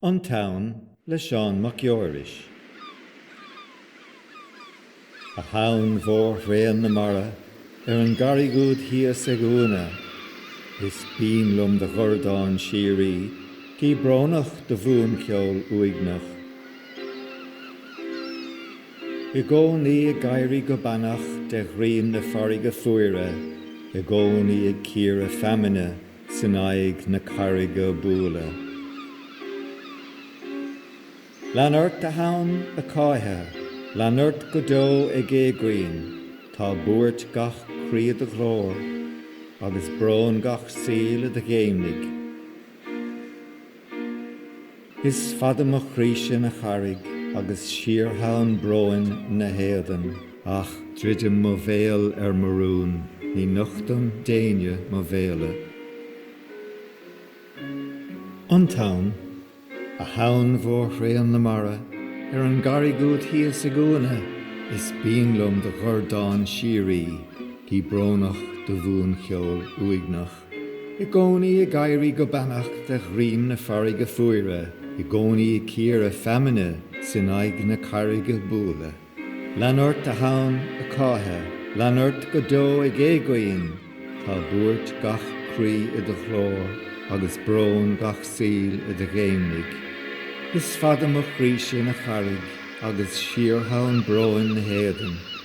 An Tonn le Seán Mac Geoiris. A thonn mhór thréan na mara, ar an gcarraig úd thíos ag Cumha, Is binn liom do dhordán síoraí, gidh brónach do bhuancheol uaigneach. I gcónaí ag éirí go beannach de dhruím na farraige fuaire, I gcónaí ag cíoradh feamainne. 's in aghaidh na carraige a' bualadh. Lean ort a thonn ag cáitheadh, lean ort go deo ag éagaoin, tá buairt gach croí i do ghlór, agus brón gach saoil i do ghéimnigh. Is fada mo chroíse ina charraig agus síor-thonn bróin 'na héadan. Ach druidim mo bhéal ar mo rún, ní nochtaim d'éinne mo mhéala. An Tonn, a thonn mhór thréan na mara, ar an gcarraig úd thíos ag Cumha, is binn liom do dhordán síoraí, gidh brónach do bhuancheol uaigneach. I gcónaí ag éirí go beannach de dhruím na farraige fuaire, i gcónaí ag cíoradh feamainne 's in aghaidh na carraige a' bualadh. Lean ort a thonn, ag cáitheadh, lean ort go deo ag éagaoin, tá buairt gach croí i do ghlór agus brón gach saoil i do ghéimnigh. Is fada mo chroí-se ina charraig agus síor-thonn bróin 'na héadan.